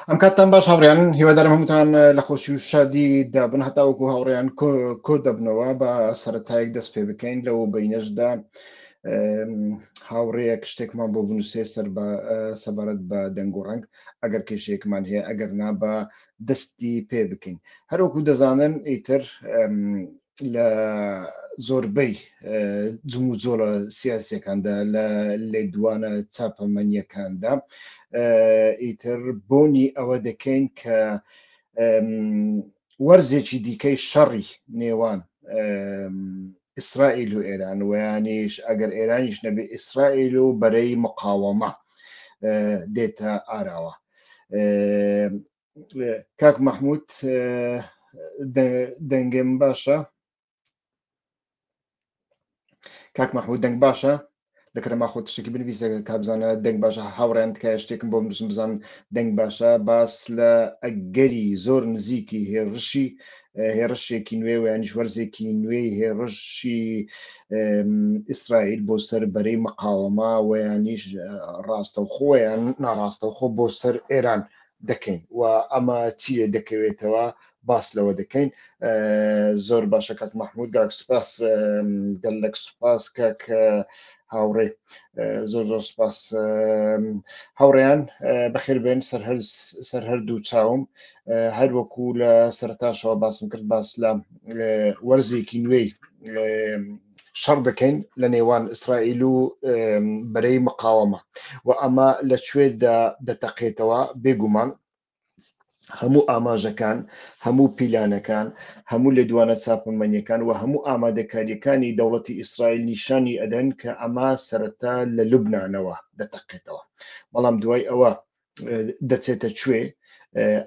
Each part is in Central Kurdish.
ئەم کاتتان باش هاوڕیان هیوادارم هەمووتان لە خۆشی و شادی دابن هەتاوەکو هاوڕیان کۆ دەبنەوە بە سەرەتایەک دەست پێ بکەین لەو بینەشدا هاوڕەیەک شتێکمان بۆ بنووسێ سەر بە سەبارەت بە دەنگ و ڕنگ ئەگەر کێشەیەکمان هەیە ئەگەر نا بە دەستی پێ بکەین هەروەکو دەزانن ئیتر لە زۆربەی جموجۆڵە سیاسەکاندا لە لێدوانە چاپەمەنیەکاندا ئیتر بۆنی ئەوە دەکەین کە وەرزێکی دیکەی شەڕی نێوان ئیسرائیل و ئێران ویانیش ئەگەر ئێرانیش نەبێ ئیسرائیل و بەرەی مقاوەمە دێتە ئاراوە کاک مححمود دەنگم باشە کاک مححمود دەنگ باشە لە کەرەما خۆ شتێکی بنویسە کابزانە دەنگ باشە هاوڕێن تکایە شتێکم بۆ بنووسم بزان دەنگ باشە باس لە ئەگەری زۆر نزیکی هێڕشی هێڕشێکی نوێ و ینیش وەرزێکی نوێی هێڕشی ئیسرائیل بۆ سەر بەرەی مقاوەما ویانیش ڕاستەوخۆیان ناڕاستەوخۆ بۆ سەر ئێران دەکەین و ئەمە چیە دەکەوێتەوە باس لەوە دەکەین زۆر باشە کاک مححمود گاک سوپاس گەلک سوپاس کاک هاوڕێ زۆر زۆر سوپاس هاوڕێیان بەخێر بێن سەر هەردوو چاوم هەر وەکو لە سەرتاشەوە باسم کرد باس لە وەرزێکی نوێی شەڕ دەکەین لە نێوان ئیسرائیل و بەرەی مقاوەمە و ئەمە لە کوێدا دەتەقێتەوە بێگومان هەموو ئاماژەکان هەموو پیلانەکان هەموو لێدوانە چاپەمەنیەکان و هەموو ئامادەکاریەکانی دەوڵەتی ئیسرائیل نیشانی ئەدەن کە ئەمە سەرەتا لە لوبنانەوە دەتەقێتەوە بەڵام دوای ئەوە دەچێتە کوێ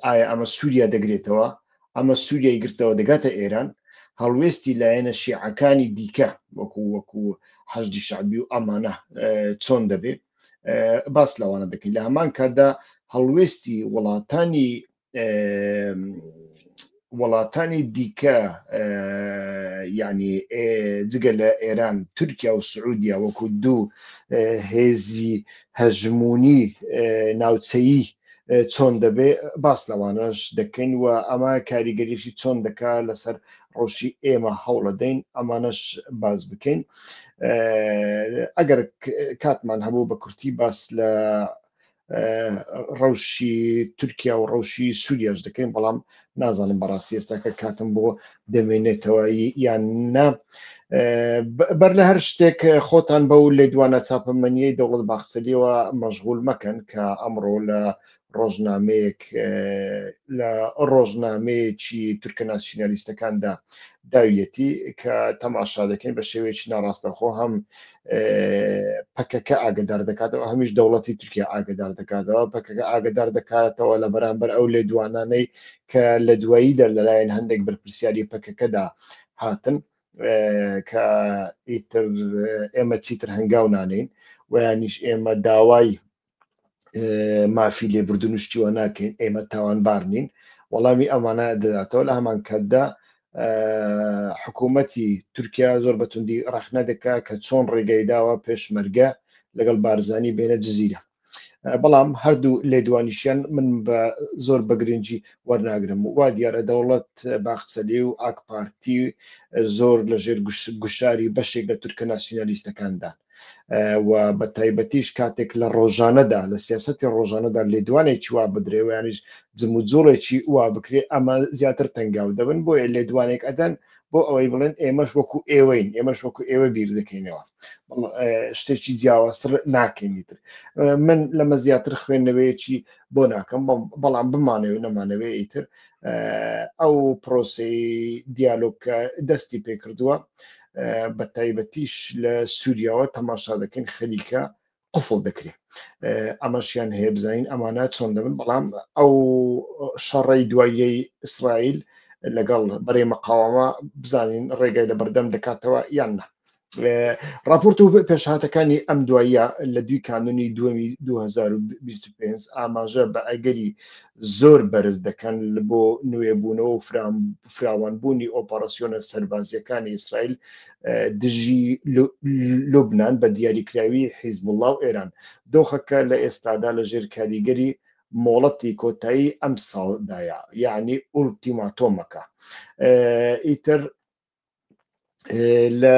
ئایا ئەمە سووریا دەگرێتەوە ئەمە سووریای گرتەوە دەگاتە ئێران هەڵوێستی لایەنە شیعەکانی دیکە وەکو وەکو حەشدی شعبی و ئەمانە چۆن دەبێت باس لەوانە دەکەین لە هەمان کاتدا هەڵوێستی وڵاتانی وڵاتانی دیکە ینی جگە لە ئێران تورکیا و سعودیا وەکو دوو هێزی هەژمونی ناوچەیی چۆن دەبێ باس لەوانەش دەکەین و ئەمە کاریگەریشی چۆن دەکا لەسەر ڕۆژی ئێمە هەوڵە دەین ئەمانەش باز بکەین ئەگەر کاتمان هەبوو بە کورتی باس لە ڕەوشی تورکیا و ڕەوشی سووریاش دەکەین بەڵام نازانم بەڕاستی ئێستاکە کاتم بۆ دەمێنێتەوە یان نا بەر لە هەر شتێک خۆتان بەو لێدوانە چاپەمەنیەی دەوڵەت باخچەلیەوە مەژغول مەکەن کە ئەمڕۆ لە ڕۆژنامەیەک لە ڕۆژنامەیەکی تورکە ناسیۆنالیستەکاندا داویەتی کە تەماشا دەکەین بە شێوەیەکی ناڕاستەخۆ هەم پەکەکە ئاگدار دەکاتەوە هەمیش دەوڵەتی تورکیا ئاگدار دەکاتەوە پەکەکە ئاگدار دەکاتەوە لە بەرامبەر ئەو لێ دوانانەی کە لە دواییدا لەلایەن هەندێک بەرپرسیاری پەکەکەدا هاتن کە ئیتر ئێمە چیتر هەنگاو نانین ویانیش ئێمە داوای مافی لێبوردن و شتیوە ناکەین ئێمە تاوانبار نین وەڵامی ئەمانە دەداتەوە لە هەمان کاتدا حکوومەتی تورکیا زۆر بەتوندی ڕخنە دەکا کە چۆن ڕێگەی داوە پێشمەرگە لەگەڵ بارزانی بێنە جززیرە بەڵام هەردوو لێدوانیشیان من بە زۆر بەگرنگجی وەرناگرم وا دیارە دەوڵەت باخچەلی و ئاکپارتی زۆر لەژێر گوشاری بەشێک لە تورکە ناسیۆنالیستەکاندان و بە تایبەتیش کاتێک لە ڕۆژانەدا لە سیاستی ڕۆژانەدا لێدوانێکی وا بدرێویانیش جموجوڵێکی وا بکرێ ئەمە زیاتر تەنگاو دەبن بۆیە لێدوانێک ئەدەن بۆ ئەوەی بڵێن ئێمەش وەکو ئێوەین ئێمەش وەکو ئێوە بیر دەکەینەوە شتێکی جیاوازتر ناکەینیتر من لەمە زیاتر خوێندنەوەیەکی بۆ ناکەم بەڵام بمانەوە نەمانەوێ ئیتر ئەو پرۆسی دیالۆگکە دەستی پێکردووە بە تایبەتیش لە سووریاوە تەماشا دەکەین خەریکە قفڵ دەکرێت ئەمەشیان هەیە بزانین ئەمانە چۆن دەبن بەڵام ئەو شەڕی دواییەی ئیسرائیل لەگەڵ بەرەی مەقاوەمە بزانین ڕێگای لە بەردەم دەکاتەوە یان نە راپۆرت و پێشهاتەکانی ئەم دواییە لە دوی کانونی دومی 2025 ئاماژە بە ئەگەری زۆر بەرز دەکەن بۆ نوێبوونەوە و فراوانبوونی ئۆپەڕسیۆنە سەربازییەکانی ئیسرائیل دژی لوبنان بە دیاریکراوی حیزبوڵڵا و ئێران، دۆخەکە لە ئێستادا لەژێر کاریگەری مۆڵەتی کۆتایی ئەمساڵدایە، یەعنی ئوڵتیماتۆمەکە ئیتر. لە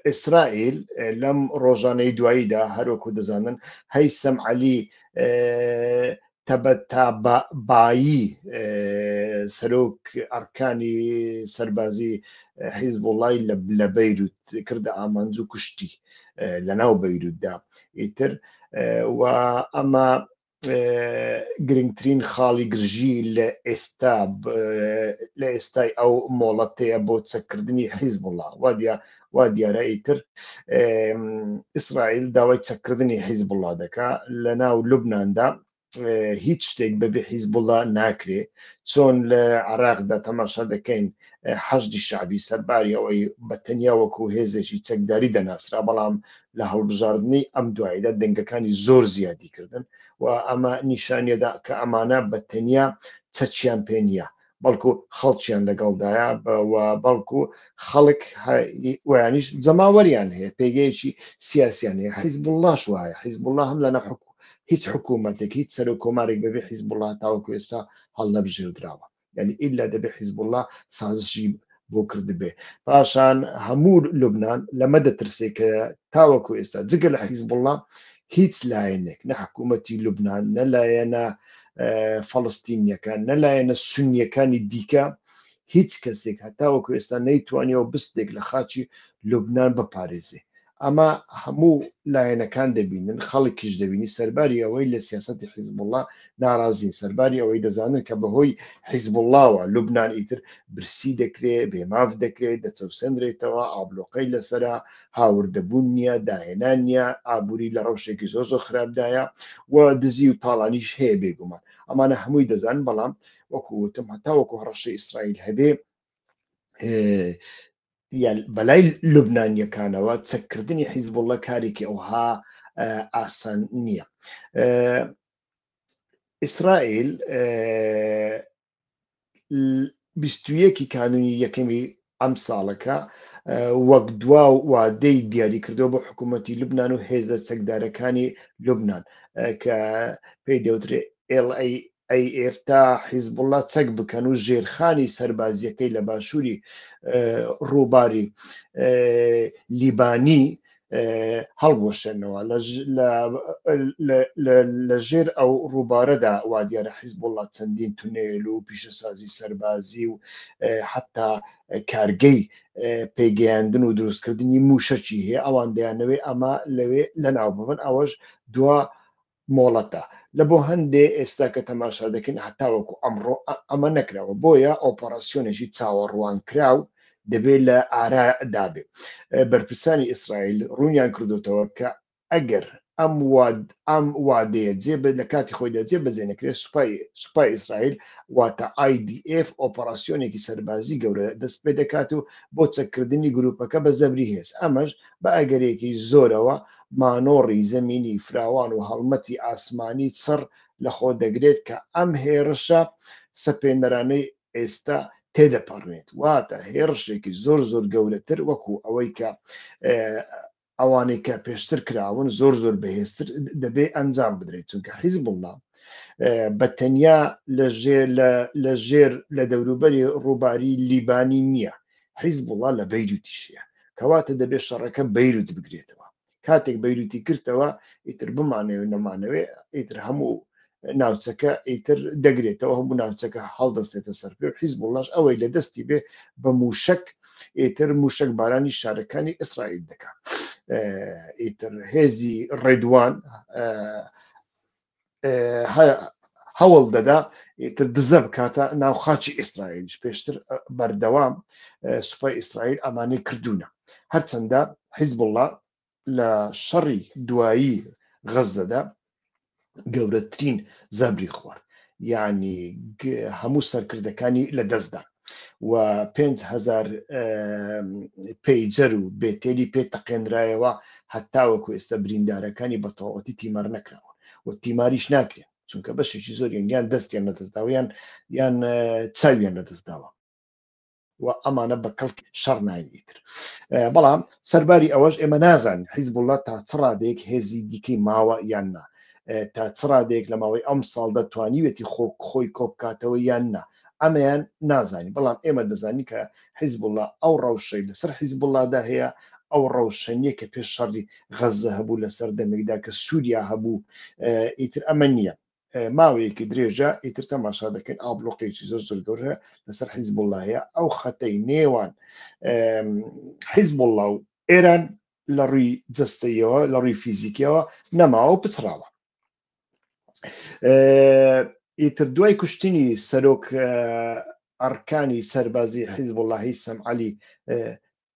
ئیسرائیل لەم ڕۆژانەی دواییدا هەروەکو دەزانن هەی سەم عەلی تەبەتابایی سەرۆک ئەرکانی سەربازی حیزب وڵی لە بەیروت کردە ئامانج و کوشتی لە ناو بەیروتدا ئیتر و ئەمە گرنگترین خاڵی گرژی لە ئێستا لە ئێستای ئەو مۆڵەتەیە بۆ چەککردنی حیزب وڵا وادیا وا دیارە ئیتر ئیسرائیل داوای چەککردنی حیزب وڵا دەکا لە ناو لوبنااندا هیچ شتێک بەبێ حیزبوڵدا ناکرێ چۆن لە عراقدا تەماشا دەکەین حەشدی شعبی سەرباری ئەوەی بە تەنیا وەکو هێزێکی چەکداری دەناسرا بەڵام لە هەڵبژاردنەی ئەم دواییدا دەنگەکانی زۆر زیادی کردن و ئەمە نیشانیدا کە ئەمانە بە تەنیا چەکیان پێ نییە بەڵکو خەڵکیان لەگەڵدایە و بەڵکو خەڵک ویانیش جەماوەریان هەیە پێگەیەکی سیاسیان هەیە حیزبوڵاش وایە حیزبوڵا هەم لە نەحکو هیچ حکوومەتێک هیچ سەرۆک کۆمارێک بەبێ حیزبوڵا تاوەکو ئێستا هەڵنەبژێردراوە یعنی ئیلا دەبێ حیزبوڵڵا سازشی بۆ کردبێ پاشان هەموو لوبناان لەمە دەترسێ کە تاوەکو ئێستا جگە لە حیزبوڵڵا هیچ لایەنێک نە حکوومەتی لوبناان نە لایەنە فەڵستینیەکان نە لایەنە سنیەکانی دیکە هیچ کەسێک هەتاوەکو ئێستا نەیتوانیەوە بستێک لە خاچی لوبناان بپارێزێ ئەمە هەموو لایەنەکان دەبینن، خەڵکیش دەبینی، سەرباری ئەوەی لە سیاسەتی حیزبوڵڵا ناڕازین، سەرباری ئەوەی دەزانن کە بەهۆی حیزبوڵڵاوە لوبنان ئیتر برسی دەکرێ، بێماف دەکرێ، دەچەوسێندرێتەوە، ئابڵۆقەی لەسەرە، هاوردەبوون نییە، داهێنان نییە، ئابووری لە ڕەوشێکی زۆر زۆر خراپدایە و دزی و تاڵانیش هەیە بێگومان. ئەمانە هەمووی دەزانن، بەڵام وەکو وتم هەتاوەکو هەڕەشەی ئیسرائیل هەبێ، یە، بەلای لوبنانییەکانەوە چەککردنی حیزبوڵڵا کارێکی ئەوها ئاسان نییە. ئیسرائیل 21 کانونی یەکەمی ئەم ساڵەکە وەک دوا و وادەی دیاری کردەوە بۆ حکوومەتتی لوبناان و هێزە چەکدارەکانی لوبناان کە پێی دەوترێت LAF ئەی ئێستا حیزبوڵا چەک بکەن و ژێرخانی سەربازیەکەی لە باشووری ڕووباری لیبانی هەڵبوەشێنەوە لە ژێر ئەو ڕووبارەدا وا دیارە حیزبوڵا چەندین تونێل و پیشەسازی سەربازی و حتا کارگەی پێگەیاندن و دروستکردنی موشەکی هەیە ئەوان دەیانەوەی ئەمە لەوێ لە ناو ببن ئەوەش دوا مۆڵەتە لە بۆ هەندێ ئێستا کە تەماشا دەکەین هەتاوەکو ئەمڕۆ ئەمە نەکراوە بۆیە ئۆپەڕاسیۆنێکی چاوەڕوانکراو دەبێ لە ئارا دابێ بەرپرسانی ئیسرائیل ڕوونیان کردۆتەوە کە ئەگەر ئەم واد ئەم وادەیە جێ بە لە کاتی خۆیدا جێ بەجێ نەکرێت سوپای سوپای ئیسرائیل واتە IDF ئۆپەڕاسیۆنێکی سەربازی گەورە دەست پێ دەکات و بۆ چەککردنی گروپەکە بە زەبری هێز ئەمەش بە ئەگەرێکی زۆرەوە مانۆڕی زەمینی فراوان و هەڵمەتی ئاسمانی چڕ لەخۆ دەگرێت کە ئەم هێڕشە سەپێنەرانەی ئێستا تێدەپەڕێت، واتە هێڕشێکی زۆر زۆر گەورەتر وەکو ئەوەی کە ئەوانەی کە پێشتر کراون زۆر زۆر بەهێزتر دەبێ ئەنجام بدرێت، چونکە حیزبوڵڵا بە تەنیا لە ژێر لە لە ژێر لە دەوروبەری ڕووباری لیبانی نییە، حیزبوڵا لە بەیروتیشیە کەواتە دەبێت شەڕەکە بەیروت بگرێتەوە کاتێک بەیروتی کردەوە ئیتر بمانەوێت نەمانەوێ ئیتر هەموو ناوچەکە ئیتر دەگرێتەوە هەموو ناوچەکە هەڵدەستێتە سەر پێ و حیزبوڵاش ئەوەی لە دەستی بێ بە موشک ئیتر موشک بارانی شارەکانی ئیسرائیل دەکات ئیتر هێزی ڕێدوان هەوڵ دەدا تر دزە بکاتە ناو خاچی ئیسرائیلش پێشتر بەردەوام سوپای ئیسرائیل ئەمانەی کردوونە هەرچەندە حیزبله لە شەڕی دوایی غەزەدا گەورەترین زەبری خوارد یعنی هەموو سەرکردەکانی لە دەستدان و پێنج هەزار پەیجەر و بێتێلی پێ تەقێنرایەوە هەتاوەکو ئێستا بریندارەکانی بەتەواوەتی تیمار نەکراوە و تیماریش ناکرێن چونکە بەشێکی زۆر یەنگیان دەستیان لەدەستداویان یان چاویان لەدەستداوە و ئەمانە بە کەڵک شەڕ ناینیتر بەڵام سەرباری ئەوەش ئێمە نازان حیزب وڵات تا چ ڕادێک هێزی دیکەی ماوە یان نا تا چ ڕادێک لە ماوەی ئەم ساڵ دەتوانیوێتی خۆک خۆی کۆبکاتەوە یان نا ئەمەیان نازانی بەڵام ئێمە دەزانین کە حیزبوڵا ئەو ڕەوشەی لەسەر حیزبوڵادا هەیە ئەو ڕەوشە نییە کە پێش شەڕی غەززە هەبوو لە سەردەمێکدا کە سووریا هەبوو ئیتر ئەمە نییە ماوەیەکی درێژە ئیتر تەماشا دەکەین ئابلۆقێکی زۆر زۆر گەورە لەسەر حیزبوڵا هەیە ئەو خەتەی نێوان حیزبوڵا و ئێران لە ڕووی جستەیەوە لە ڕووی فیزیکیەوە نەماوە پچڕاوە ئیتر دوای کوشتنی سەرۆک ئەڕکانی سەربازی حیزب وڵی سەمعلی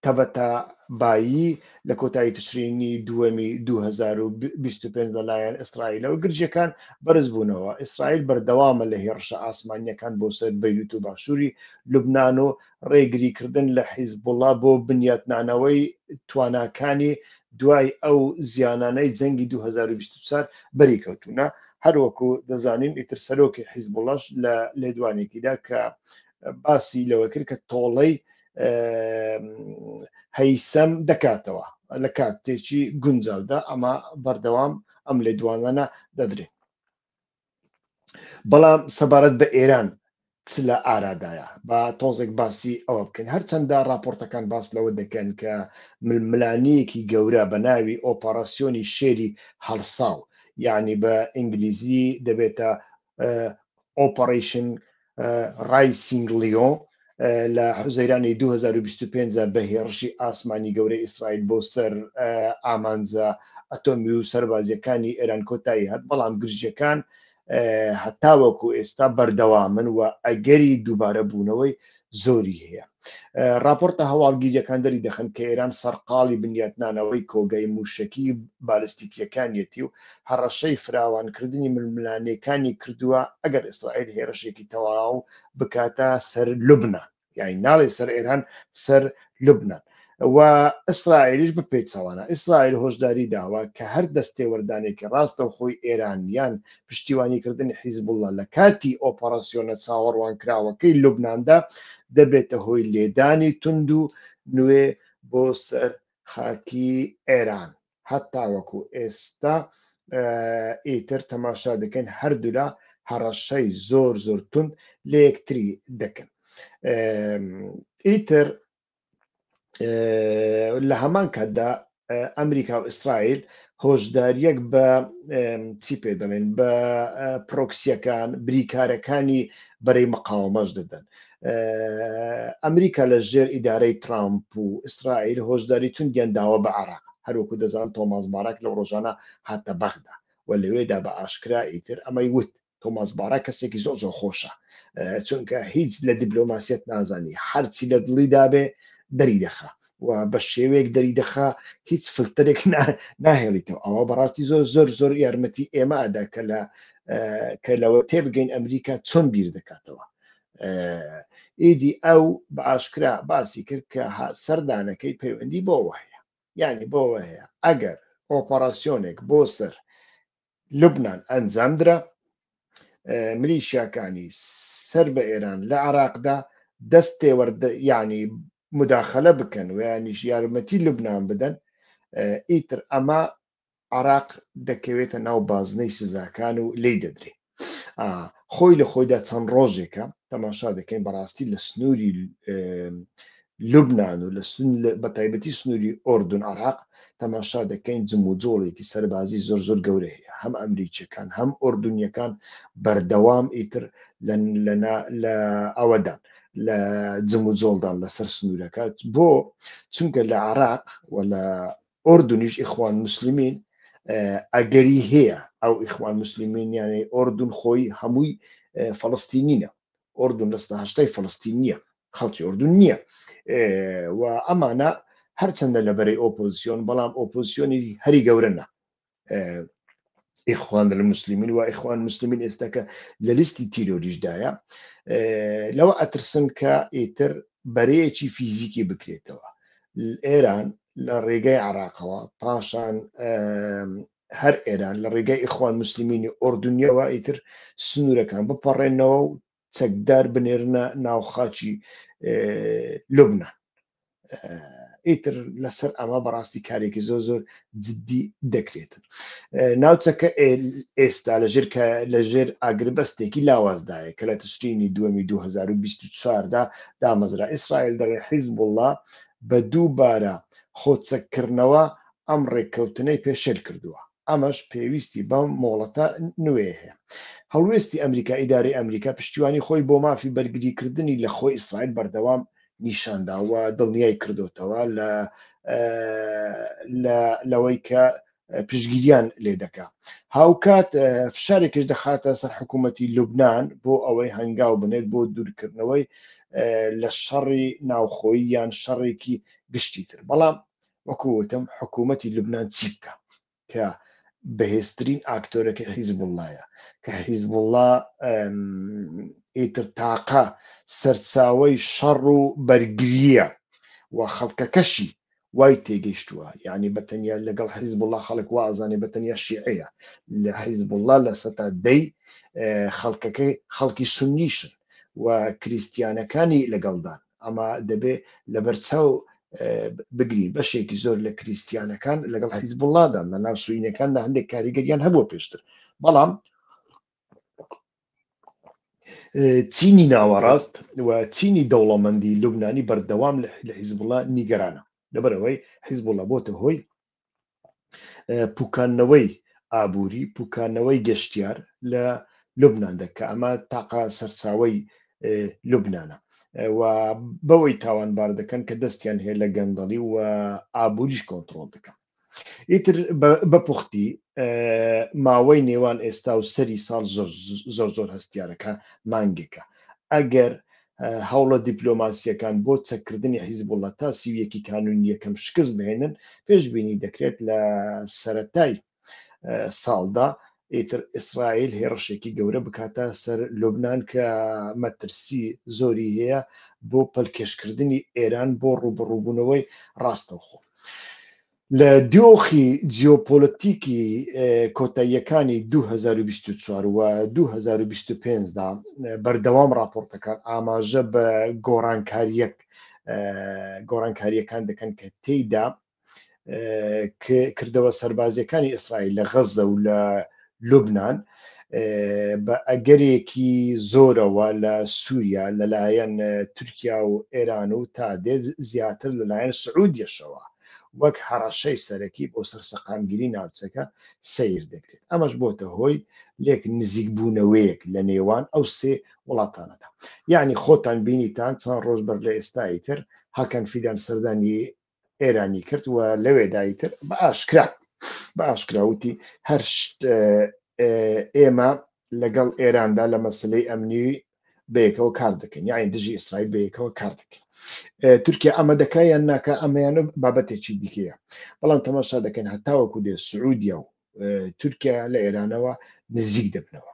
تەبەتا بایی لە کۆتایی تشرینی دووەمی 2025 لەلایەن ئیسرائیلەوە گرجەکان بەرز بوونەوە ئیسرائیل بەردەوامە لە هێڕشە ئاسمانیەکان بۆ سەر بەیروت و باشووری لوبناان و ڕێگریکردن لە حیزبوڵا بۆ بنیاتنانەوەی تواناکانی دوای ئەو زیانانەی جەنگی دوو هەزار و بیست و چوار بەری کەوتوونە هەروەکو دەزانین ئیتر سەرۆکی حیزبوڵاش لە لێدوانێکیدا کە باسی لەوە کرد کە تۆڵەی هەیسەم دەکاتەوە لە کاتێکی گونجاودا ئەمە بەردەوام ئەم لێدوانانە دەدرێت بەڵام سەبارەت بە ئێران چ لە ئارادایە با تۆزێک باسی ئەوە بکەین هەرچەندە راپۆرتەکان باس لەوە دەکەن کە ململانیەکی گەورە بە ناوی ئۆپەراسیۆنی شێری هەڵساو یعنی بە ئینگلیزی دەبێتە ئۆپەرشن ڕای سینگ لیۆ لە حوزەیرانی دوو هەزار و بیست و پێنج بە هێڕشی ئاسمانی گەورەی ئیسرائیل بۆ سەر ئامانجە ئەتۆمی و سەربازییەکانی ئێران کۆتایی هات بەڵام گرژییەکان هەتاوەکو ئێستا بەردەوامن و ئەگەری دووبارە بوونەوەی زۆری هەیە. ڕاپۆرتە هەواڵگیرییەکان دەری دەخەن کە ئێران سەرقاڵی بنیاتنانەوەی کۆگای مووشەکی بالستیکییەکانیەتی و هەڕەشەی فراوانکردنی ململانێکانی کردووە ئەگەر ئیسرائیل هێرشێکی تەواو بکاتە سەر لوبنان یاین ناڵێ سەر ئێران سەر لوبنان و ئیسرائیلیش بپێچەوانە. ئیسرائیل هۆشداری داوە کە هەر دەستێوەردانێکی ڕاستەوخۆی ئێران یان پشتیوانیکردنی حیزبوڵڵا لە کاتی ئۆپەڕاسیۆنە چاوەڕوانکراوەکەی لوبناندا دەبێتە هۆی لێدانی توند و نوێ بۆ سەر خاکی ئێران. هەتاوەکو ئێستا ئیتر تەماشا دەکەین هەردوولا هەڕەشەی زۆر زۆر توند لە یەکتری دەکەن. ئیتر لە هەمان کاتدا ئەمریکا و ئیسرائیل هۆشداریەک بە چی پێ دەڵێن بە پرۆکسیەکان بریکارەکانی بەرەی مقاومەش دەدەن ئەمریکا لە ژێر ئیدارەی ترامپ و ئیسرائیل هۆشداری توندیان داوە بە عراق هەروکو دەزان تۆماس بارک لە ڕۆژانە هاتە بەغدا و لەوێدا بە ئاشکرا ئیتر ئەمەی وت تۆماس بارا کەسێکی زۆر زۆر خۆشە چونکە هیچ لە دیبلۆماسیەت نازانی هەرچی لە دڵی دابێ دەری دەخە و بە شێوەیەک دەری دەخە هیچ فلتەرێک ناهێڵیتەوە ئەوە بەڕاستی زۆر زۆر زۆر یارمەتی ئێمە ئەدا کە لە کە لەوە تێبگەین ئەمریکا چۆن بیر دەکاتەوە ئیدی ئەو بە ئاشکرا باسی کرد کە سەردانەکەی پەیوەندی بۆەوە هەیە یعنی بۆەوە هەیە ئەگەر ئۆپەراسسیۆنێک بۆ سەر لوبنان ئەنجامدرا، ملیشیاکانی سەر بە ئێران لە عێراقدا دەست تێوەرد یانی مداخلە بکەن و یانیش یارمەتی لوبنان بدەن، ئیتر ئەمە عێراق دەکەوێتە ناو بازنەی سزاکان و لێی دەدرێ. خۆی لە خۆیدا چەند ڕۆژێکە تەماشا دەکەین بەڕاستی لە سنووری لوبنان و لە سن لە بە تایبەتی سنووری ئۆردون عراق تەماشا دەکەین جموجۆڵێکی سەربازی زۆر زۆر گەورە هەیە هەم ئەمریکیەکان هەم ئۆردونیەکان بەردەوام ئیتر لە لەنا لە ئەوەدان لە جموجۆڵدان لەسەر سنوورەکە بۆ چونکە لە عراق و لە ئۆردونیش ئیخوان مسلمین ئەگەری هەیە ئەو ئیخوان مسلمینیانەی ئۆردون خۆی هەمووی فەڵستینینە ئۆردون لە سناهشتای فلستین نییە خەڵکی ئۆردون نییە و ئەمانە هەرچەندە لە بەرەی ئۆپۆزیسیۆن بەڵام ئۆپۆزیسیۆنی هەری گەورنە ئیخوان لە مسللیمین و ئیخوان مسللیمین ئێستاکە لە لیستی تیرۆریشدایە لەوە ئەترسن کە ئیتر بەرەیەکی فیزیکی بکرێتەوە ئێران لە ڕێگەی عراقەوە پاشان هەر ئێران لە ڕێگای ئیخوان موسلیمینی ئۆردونیەوە ئیتر سنوورەکان بپەڕێنەوە و چەکدار بنێرنە ناو خاچی لوبنان ئیتر لەسەر ئەمە بەڕاستی کارێکی زۆر زۆر جددی دەکرێتن ناوچەکە ئێستا لەژێر لەژێر ئاگربەستێکی لاوازدایە کە لە تشرینی دووەمی 2024دا دامەزرا ئیسرائیل دەڵێ حیزب وڵا بە دووبارە خۆچەککردنەوە ئەم ڕێککەوتنەی پێشێل کردووە، ئەمەش پێویستی بە مۆڵەتە نوێ هەیە. هەڵوێستی ئەمریکا، ئیدارەی ئەمریکا پشتیوانی خۆی بۆ مافی بەرگریکردنی لە خۆی ئیسرائیل بەردەوام نیشاندا و دڵنیای کردۆتەوە لەوەی کە پشتگیریان لێ دەکا. هاوکات فشارێکیش دەخاتە سەر حکوومەتی لوبنان بۆ ئەوەی هەنگاو بنێت بۆ دوورکردنەوەی لە شەڕی ناوخۆیی یان شەڕێکی گشتی تر. بەڵام وەکو وتم حکومەتی لوبنان چی بکا کە بەهێزترین ئاکتۆرەکەی حیزبوڵڵایە کە حیزبوڵڵا ئیتر تاقە سەرچاوەی شەڕ و بەرگریە و خەڵکەکەشی وای تێگەیشتووە یعنی بە تەنیا لەگەڵ حیزبوڵڵا خەڵک وازانێ بە تەنیا شیعەیە لە حیزبوڵڵا لە سەتا دەی خەڵکەکەی خەڵکی سنیشن و کریسیانەکانی لەگەڵدان ئەمە دەبێ لەبەرچاو بگرین بەشێکی زۆر لە کریسیانەکان لەگەڵ حیزبوڵادان لە ناو سوینەکان لە هەندێک کاریگەریان هەبووە پێشتر بەڵام چینی ناوەڕاست و چینی دەوڵەمەندی لوبنانی بەردەوام لە حیزبڵە نیگەرانە لەبەرەوەی حیزبڵە بۆتە هۆی پوکانەوەی ئابووری پوکانەوەی گەشتیار لە لوبناندە کە ئەمە تاقا سەرچاوی لوبناە و بەوەی تاوانبار دەکەن کە دەستیان هەیە لە گەندەڵی و ئابووریش کۆنتترۆل دەکەن ئیتر بە پوختی ماوەی نێوان ئێستا و سەری ساڵ زۆر زۆر هەستیارەکە مانگێکە ئەگەر هەوڵە دیپلۆماسییەکان بۆ چەککردنی حیزبوڵە تا سیویەکی کانونی یەکەم شکست بهێنن پێشببینی دەکرێت لە سەتای ساڵدا ئیتر ئیسرائیل هێڕشێکی گەورە بکاتە سەر لوبناان کە مەترسی زۆری هەیە بۆ پەلکێشکردنی ئێران بۆ ڕوبڕوبوونەوەی ڕاستەوخۆ. لە دۆخی جیۆپۆلەتیکی کۆتاییەکانی دوو هەزار و بیست و چوار و دوو هەزار و بیست و پێنج دا، بەردەوام ڕاپۆڕتەکان ئاماژە بە گۆڕانکارییەک گۆڕانکارییەکان دەکەن کە تێیدا کردەوە سەربازییەکانی ئیسرائیل لە غەززە و لە لوبنان بە ئەگەرێکی زۆرەوە لە سووریا لەلایەن تورکیا و ئێران و تا دێت زیاتر لەلایەن سعودیەشەوە وەک هەڕەشەی سەرەکی بۆ سەر سەقامگیری ناوچەکە سیر دەکرێت ئەمەش بۆتە هۆی لێک نزیک بوونەوەیەک لە نێوان ئەو سێ وڵاتانەدا یعنی خۆتان بینیتان چەند ڕۆژ بەر لە ئێستایی تر هەکەن فیدان سەردانی ئێرانی کرد و لەوێدا ئیتر بە ئاشکرا بە ئاشکرا وتی هەر شت اه، اه، ئێمە لەگەڵ ئێراندا لە مەسلەی ئەمنی بەیەکەوە کار دەکەین یاین دژی ئیسرائیل بەیەکەوە کار دەکەین اه، تورکیا ئەمە دەکا یان ناکە ئەمەیان و بابەتێکی دیکەیە بەڵام تەماشا دەکەین هەتاوەکو دێ سعودیا و اه، تورکیا لە ئێرانەوە نزیک دەبنەوە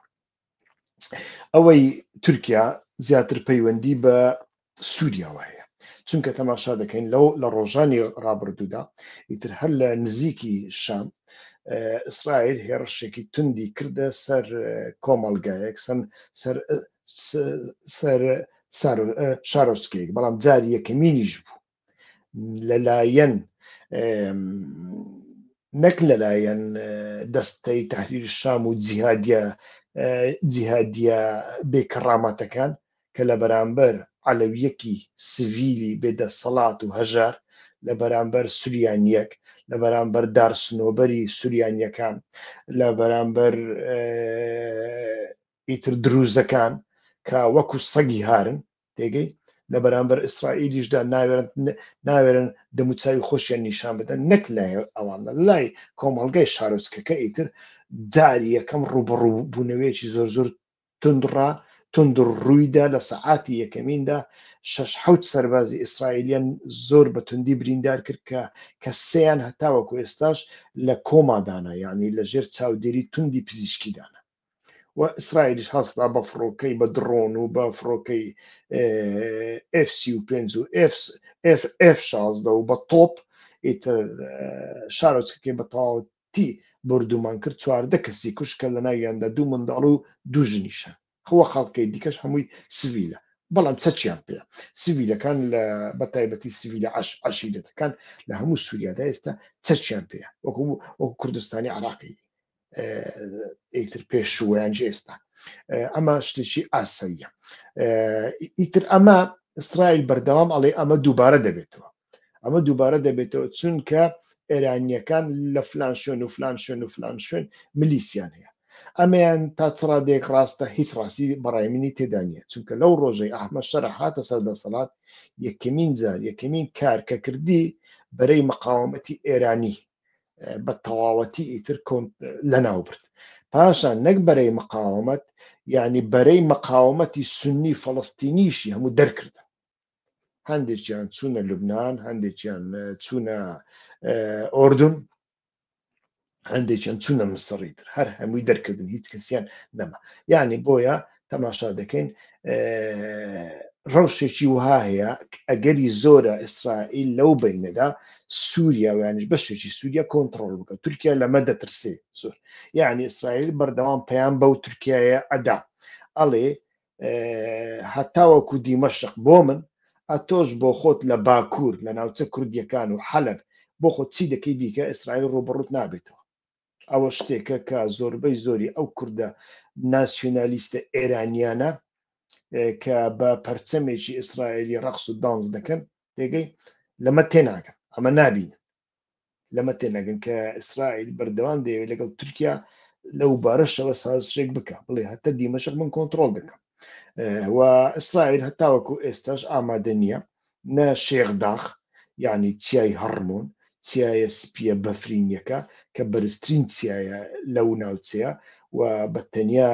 ئەوەی تورکیا زیاتر پەیوەندی بە سووریاوە هەیە چونکە تەماشا دەکەین لەو لە ڕۆژانی ڕابردوودا ئیتر هەر لە نزیکی شام ئیسرائیل هێڕشێکی توندی کردە سەر کۆمەلگایەک سەم سەر سەر شارۆسکێک بەڵام جاری یەکەمینیش بوو لەلایەن نەک لەلایەن دەستەی تحریر شام و جیهادە جیهادە بێکەڕامەتەکان کە لە بەرامبەر علەویەکی سڤیلی بێدەسەڵات و هەژار لە بەرامبەر سوریانیەک لە بەرامبەر دارسنۆبەری سوریانیەکان لە بەرامبەر ئیتر دروزەکان کە وەکو سەگی هارن تێگەی لە بەرامبەر ئیسرائیلیشدا ناوێرن ناوێرن دەموچوی خۆشیان نیشان بدەن نەک لای ئەوان لای کۆمەڵگای شارۆچکەکە ئیتر جاری یەکەم ڕوبڕوبوونەوەیەکی زۆر زۆر تندڕا تندڕ ڕوویدا لە سەعاتی یەکەمیندا شش حوت سەربازی ئیسرائیلیان زۆر بە توندی بریندار کرد کە کە سیان هەتاوەکو ئێستاش لە کۆمادانە یعنی لە ژێر چاودێری توندی پزیشکیدانە و ئیسرائیلیش هەستا بە فڕۆکەی بە دڕۆن و بە فڕۆکەی ئف سی و پێنج و ئف شازدە و بە تۆپ ئیتر شارۆچەکەی بە تەواوەتی بردومان کرد چواردە کەسی کوشکە لە ناویاندا دوو منداڵ و دوو ژنیشە هەوە خەڵکەی دیکەش هەمووی سڤیلە بەڵام چەچیان پێ سڤیلەکان لە بە تایبەتی سڤیلە عش عشیرەتەکان لە هەموو سووریادا ئێستا چەچیان پێ وەکو وەکو کوردستانی عراقی ئیتر پێشوویان ئێستا ئەمە شتێکی ئاسەیە ئیتر ئەمە ئیسرائیل بەردەوام ئەڵێ ئەمە دووبارە دەبێتەوە ئەمە دووبارە دەبێتەوە چونکە ئێرانیەکان لە فلان شوێن و فلان شوێن و فلان شوێن ملیسیان هەیە ئەمیان تا چڕادێک ڕاستە هیچ ڕاستی بەڕای منی تێدا نیە چونکە لەو ڕۆژەی ئەحمە شەر هاتە سەر دەسەڵات یەکەمین جار یەکەمین کار کە کردی بەرەی مەقاومەتی ئێرانی بە تەواوەتی ئیتر کۆنت لەناو برد پاشان نەک بەرەی مقاومەت یعنی بەرەی مقاومەتی سنی فەڵستینیشی هەموو دەرکردن هەندێکیان چوونە لوبناان هەندێکیان چوونە ئۆردون هەندێکیان چوونە مسڕی تر هەر هەمووی دەرکردن هیچ کەسیان نەما یعنی بۆیە تەماشا دەکەین ڕەوشێکی وها هەیە ئەگەری زۆرە ئیسرائیل لەو بینەدا سووریا ویانش بەشێکی سووریا کۆنتترۆل بکە تورکیا لەمە دەترسێ زۆر یعنی ئیسرائیل بەردەوام پەیان بەو تورکایە ئەدا ئەڵێ هەتاوەکو دیمەشق بۆ من ئەتۆش بۆ خۆت لە باکوور لە ناوچە کوردیەکان و حەلب بۆ خۆ چی دەکەی بیکە ئیسرائیل ڕوبڕوت نابێتەوە ئەوە شتێکە کە زۆربەی زۆری ئەو کوردە ناسیۆنالیستە ئێرانیانە کە بە پەرچەمێکی ئیسرائیلی ڕەخس و دانس دەکەن پێگەی لەمە تێناگەن ئەمە نابین لەمە تێنەگەن کە ئیسرائیل بەردەوام دەیەوێت لەگەڵ تورکیا لەو بارەشەوە سازشێک بکە بڵێ هەتا دیمەشق من کۆنتترۆل دەکەم و ئیسرائیل هەتاوەکو ئێستاش ئامادە نییە نە شێخ داخ یعنی چیای هەڕمۆن چیایە سپیە بەفرینیەکە کە بەرزترین چیایە لەو ناوچەیە و بە تەنیا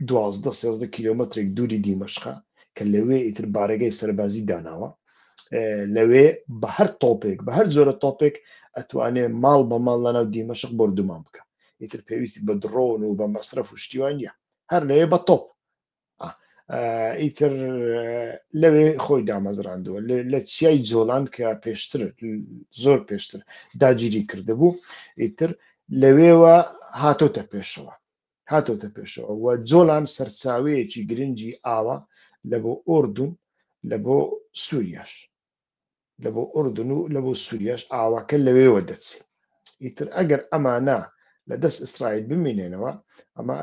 دوازدە سێزدە کیلومترێک دووری دیمەشقە کە لەوێ ئیتر بارەگەی سەربازی داناوە لەوێ بە هەر تۆپێک بە هەر جۆرە تۆپێک ئەتوانێ ماڵ بە ماڵ لە ناو دیمەشق بردومان بکە ئیتر پێویستی بە دڕۆن و بە مەسرف و شتیوان نیە هەر لەوێ بە تۆپ ئیتر لەوێ خۆی دامەزراندووە لە چیای جۆلان کە پێشتر زۆر پێشتر داگیری کردبوو ئیتر لەوێوە هاتۆتە پێشەوە هاتۆتە پێشەوە و جۆلان سەرچاوەیەکی گرنگی ئاوە لە بۆ ئۆردون لە بۆ سووریاش لە بۆ ئوردن و لە بۆ سووریاش ئاوەکە لەوێوە دەچێت ئیتر ئەگەر ئەمانە لە دەست ئیسرائیل بمینێنەوە ئەمە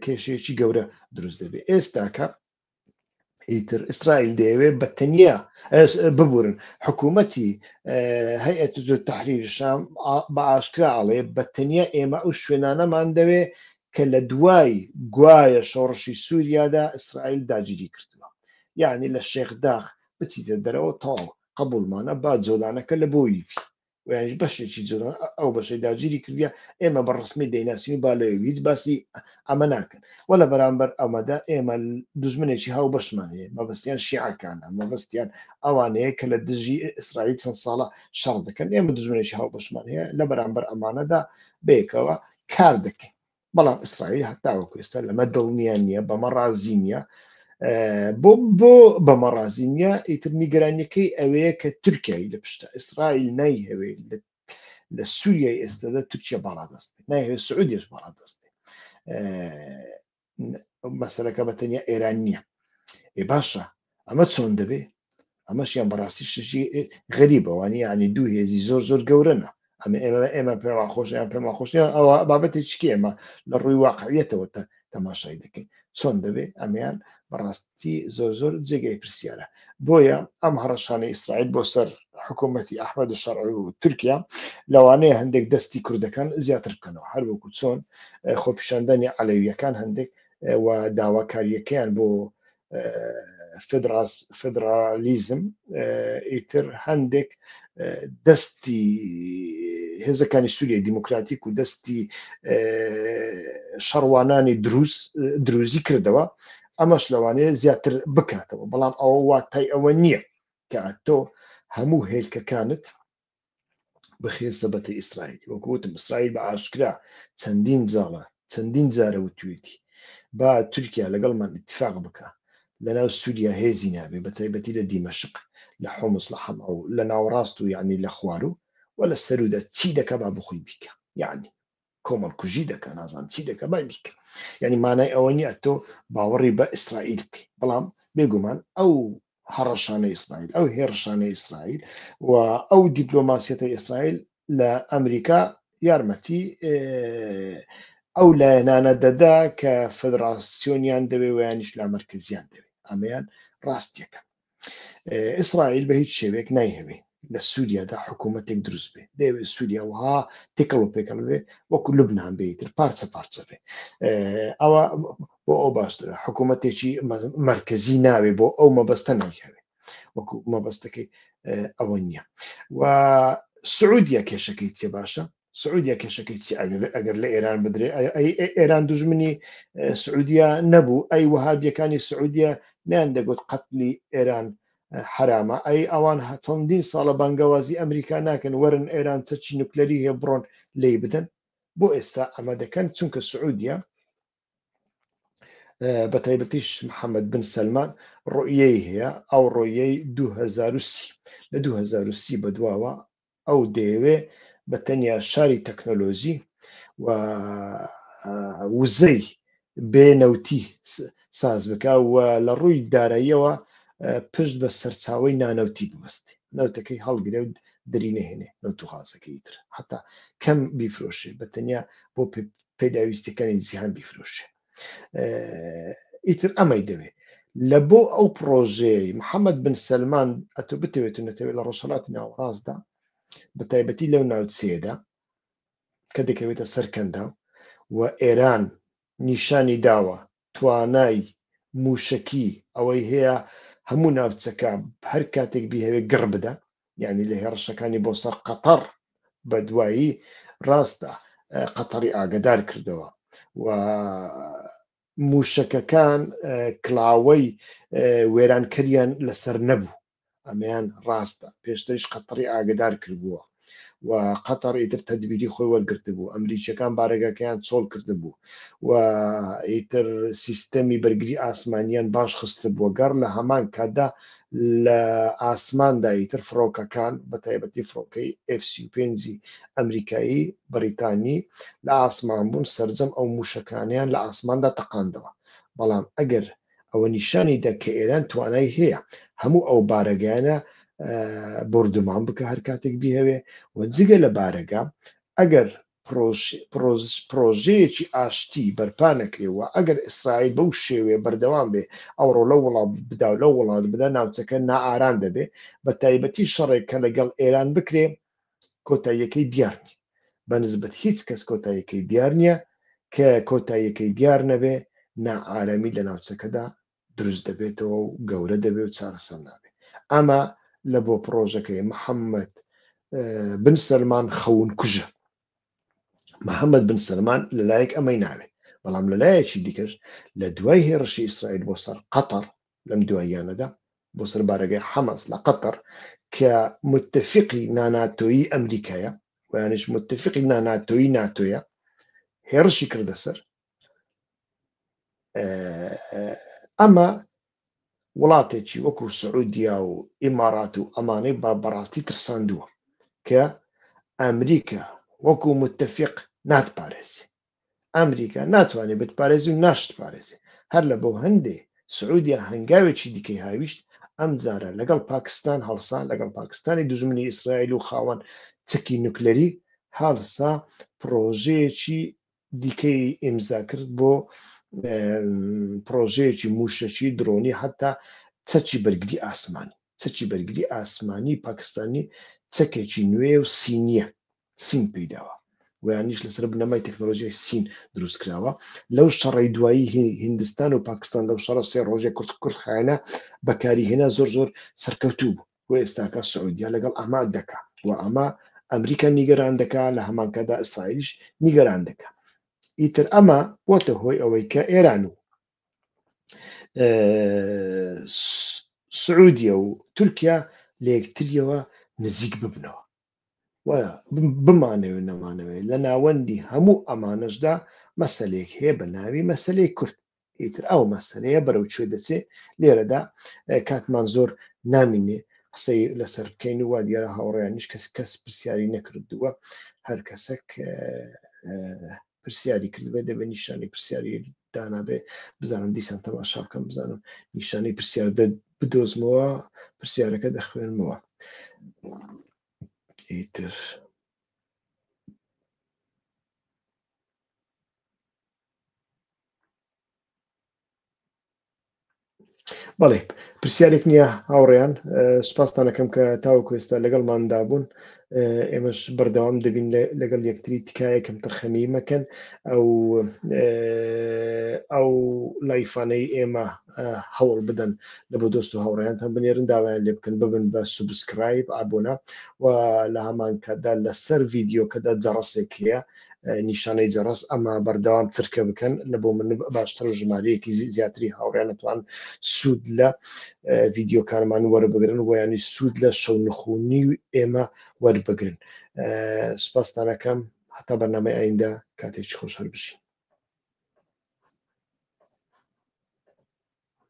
کێشەیەکی گەورە دروست دەبێت ئێستاکە ئیتر ئیسرائیل دەیەوێت بە تەنیا ببورن حکوومەتی هەیەت تحریر شام بە ئاشکرا ئەڵێ بە تەنیا ئێمە ئەو شوێنانەمان دەوێ کە لە دوای گوایە شۆڕشی سووریادا ئیسرائیل داگیری کردووە یعنی لە شێخداخ بچیتە دەرەوە تەواو قبولمانە با جۆلانەکە لە بۆی بی ویش بەشێکی جۆلان ئەو بەشەی داگیری کردە ئێمە بە ڕسمی دەیناسین و با لە هیچ باسی ئەمە ناکەن وە لە بەرامبەر ئەمەدا ئێمە دژمنێکی هاو بەشمان هەیە مەبەستیان شیعەکانە مەبەستیان ئەوانەیە کە لە دژی ئیسرائیل چەند ساڵە شەڕ دەکەن ئێمە دژمنێکی هاو بەشمان هەیە لە بەرامبەر ئەمانەدا بێکەوە کار دەکەین بەڵام ئیسرائیل هەتاوەکو ئێستا لەمە دڵنییان نییە بەمە ڕازی نییە بۆ بۆ بەمە ڕازی نییە ئیتر نیگەرانیەکەی ئەوەیە کە تورکایی لە پشتە ئیسرائیل نایهەوێ لە سووریای ئێستادا تورکیا باڵا دەست نایهوێ سعودیش باڵا دەست مەسەرەکە بە تەنیا ئێران نییە باشە ئەمە چۆن دەبێ ئەمەشیان بەڕاستی شتێکی غەریبە وانە یعنی دوو هێزی زۆر زۆر گەورەنە ئەمە ئێمە ئێمە پێمان خۆشیان پێمان خۆشیان ئەوە بابەتی چکی ئێمە لە ڕووی واقعیەتەوە تا تەماشای دەکەین چۆن دەبێ ئەمیان بەڕاستی زۆر زۆر جێگەی پرسیارە بۆیە ئەم هەڕەشانە ئیسرائیل بۆ سەر حکوومەتتی ئەحمەد شەڕ و تورکیا لەوانەیە هەندێک دەستی کوردەکان زیاتر بکەنەوە هەر وەکو چۆن خۆپیشاندانی عەلەویەکان هەندێک و داواکاریەکەیان بۆ فدرالیزم ئیتر هەندێک دەستی هێزەکانی سووریای دیموکراتیک و دەستی شەڕوانانی دروست دروزی کردەوە ئەمەش لەوانەیە زیاتر بکاتەوە بەڵام ئەوە واتای ئەوە نییە کە تۆ هەموو هێلکەکانت بخرێ سەبەتەی ئیسرائیلی وەکو وتم ئیسرائیل بە ئاشکرا چەندین جاڵە چەندین جارە وتوێتی با تورکیا لەگەڵ من اتفاق بکە لەناو سووریا هێزی نابێ بە تایبەتی لە دیمەشق لە حمس لە حەما و لە ناوەڕاست و یعنی لە خوارو و لە سەرودا چی دەکا با بخۆی بیکە یعنی کۆمەڵکوژی دەکا نازانم چی دەکە بای بیکە یعنی مانای ئەوە نیە تۆ باوەڕی بە ئیسرائیل بکەی بەڵام بێگومان ئەو هەڕەشانە ئیسرائیل ئەو هێڕشانە ئیسرائیل و ئەو دیپلۆماسیەتە ئیسرائیل لە ئەمریکا یارمەتی ئەو لایەنانە دەدا کە فدراسیۆنیان دەوێ ویانیش لا مرکزیان دەوێت ئەمەیان ڕاستیەکە ئیسرائیل بە هیچ شێوێک نایهەوێ لە سووریادا حکوومەتێک دروست بێ دەوێ سووریا وها تێکەڵ و پێکەڵ بێ وەکو لبنان بێتتر پارچە پارچە بێ ئەوە بۆ ئەو باشترە حکوومەتێکی مرکزی ناوێ بۆ ئەو مەبەستە نایهەوێ وەکو مەبەستەکەی ئەوە نییە و سعودیە کێشەکەی چێ باشە سعودیە کێشەکەی چی ئەگەر لە ئێران بدرێ ئێران دژمنی سعودیە نەبوو ئەی وهابیەکانی سعودیە نیان دەگوت قەتلی ئێران حرامە ئەی ئەوان چەندین ساڵە بانگەوازی ئەمریکا ناکەن وەرن ئێران چەچی نوکلەری هەیە بڕۆن لی بدەن بۆ ئێستا ئەمە دەکەن چونکە سعودیە بە تایبەتیش محەممەد بن سلمان ڕۆیەی هەیە ئەو ڕۆیەی 2030 لە 2030 بەدواوە ئەو دەیەوێ بە تەنیا شاری تەکنەلۆژی و وزەی بێ نەوتی ساز بکە و لە ڕووی داراییەوە پشت بە سەرچاوی نانەوتی ببستی نەوتەکەی هەڵگرێ و دری نهێنێ نەوت و غازەکەی تر حتا کەم بیفرۆشێ بە تەنیا بۆ پێداویستەکانی جیهان بیفرۆشێ ئیتر ئەمەی دەوێت لە بۆ ئەو پرۆژەیە محەممەد بن سلمان ئەتو بتەوێت و نەتەوێت لە ڕۆژهڵاتی ناوەڕاستدا بە تایبەتی لەو ناوچەیەدا کە دەکەوێتە سەرکەندا و ئێران نیشانی داوە توانای موشکی ئەوەی هەیە هەموو ناوچەکە هەر کاتێک بیهوێ گڕ بدە یانی لە هێڕشەکانی بۆ سەر قەتەڕ بە دوایی ڕاستە قەتەڕی ئاگدار کردەوە و موشەکەکان کلاوەی وێرانکەریان لەسەر نەبوو ئەمەیان ڕاستە پێشتریش قەتەڕی ئاگدار کردبووە و قەتەڕ ئیتر تەدبیری خۆی وەرگرت بوو ئەمریکیەکان بارەگەکەیان چۆڵ کرد بوو و ئیتر سیستەمی بەرگری ئاسمانیان باش خست بووە گەڕ لە هەمان کاتدا لە ئاسماندا ئیتر فڕۆکەکان بە تایبەتی فڕۆکەی ئێف سی و پێنجی ئەمریکایی بەریتانی لە ئاسمان بوون سەرجەم ئەو موشەکانیان لە ئاسماندا تەقاندەوە بەڵام ئەگەر ئەوە نیشانی دە کە ئێران توانای هەیە هەموو ئەو بارەگایانە بردومان بکە هەر کاتێک بیهوێ و جگە لە بارەگە ئەگەر پڕۆژەیەکی ئاشتی بەرپا نەکرێ و ئەگەر ئیسرائیل بەو شێوەیە بەردەوام بێ ئەوڕۆ لەو وڵات بدا و لەو وڵات بدا ناوچەکە نائارام دەبێ بە تایبەتی شەڕێک کە لەگەڵ ئێران بکرێ کۆتاییەکەی دیار نیە بە نسبەت هیچ کەس کۆتاییەکەی دیار نیە کە کۆتاییەکەی دیار نەبێ نائارەمی لە ناوچەکەدا دروست دەبێتەوە و گەورە دەبێ و چارەسەر نابێ ئەمە لە بۆ پرۆژەکەی محەممەد بن سەلمان خەون کوژە محەممەد بن سەلمان لەلایەک ئەمەی ناوێت بەڵام لەلایەکی دیکەش لە دوای هێرشی ئیسرائیل بۆ سەر قەتەر لەم دواییانەدا بۆ سەر بارەگەی حەماس لە قەتەر کە متفقی ناناتۆیی ئەمریکایە ویانش متفقی ناناتۆیی ناتۆیە هێرشی کردە سەر ئەمە وڵاتێکی وەکو سعودیا و ئیمارات و ئەمانەی با بەڕاستی ترساندووە کە ئەمریکا وەکو متتەفق ناتپارێزی ئەمریکا ناتوانێت بتپارێزی و ناشت پارێزی هەر لە بۆ هەندێ سعودیا هەنگاوێکی دیکەی هاویشت ئەم جارە لەگەڵ پاکستان هەڵسا لەگەڵ پاکستانی دژمنی ئیسرائیل و خاوەن چکی نوکلەری هەڵسا پرۆژەیەکی دیکەی ئیمزا کرد بۆ پرۆژەیەکی موشەکی درۆنی حتا چەکی بەرگری ئاسمانی چەکی بەرگری ئاسمانی پاکستانی چەکێکی نوێ و سینیە سین پیداوە ویانیش لەسەر بنەمای تەکنۆلۆژیای سین دروست کراوە لەو شەڕی دوایی هندستان و پاکستان لەو شەڕە سێ ڕۆژێک کورت کورت خایەنە بەکاری هێنا زۆر زۆر سەرکەوتوو بوو و ئێستاکە سعودیە لەگەڵ ئەمان دەکا و ئەمە ئەمریکا نیگەران دەکا لە هەمانکادا ئیسرائیلیش نیگەران دەکا ئیتر ئەمە بۆتە هۆی ئەوەی کە ئێران و سعودیە و تورکیا لە یەکتریەوە نزیک ببنەوە و بمانەوێت نەمانەوێت لە ناوەندی هەموو ئەمانەشدا مەسلێک هەیە بە ناوی مەسلەی کورد ئیتر ئەو مەسەلەیە بەرەو کوێ دەچێ لێرەدا کاتمان زۆر نامینێ قسەی لەسەر بکەین و وا دیارە هاوڕێیانش کەس کەس پرسیاری نەکردووە هەر کەسێک پرسیاری کردبێ دەبێت نیشانی پرسیاری دانابێ بزانم دیسان تەماشا بکەم بزانم نیشانی پرسیار بدۆزمەوە پرسیارەکە دەخوێنمەوە ئیتر بەڵێ پرسیارێک نییە هاوڕێیان سوپاستانەکەم کە تاوە کوێستا لەگەڵ مادا بوون ئێمەش بەردەوام دەبین لەگەڵ یەکتری تکایە کەم تەرخەمی مەکەن ئەو ئەو لایفانەی ئێمە هەوڵ بدەن لە بۆ دۆست و هاوڕێیانتان بنێرن داوایان لێ بکەن ببن بە سوبسکرایب ئابوونا و لە هەمان کاتدا لەسەر ڤیددیوکەدا جەڕسێک هەیە نیشانەی جەڕەس ئەما بەردەوام چرکە بکەن لە بۆ من باشتر و ژمارەیەکی زیاتری هاوڕێنتوان سوود لە ڤیددیوکانمان وەربگرن ویانی سوود لە شەو نخونی و ئێمە وەربگرن سوپاستانەکەم هەتا بەنامەی ئایندە کاتێکی خۆش هەر بشین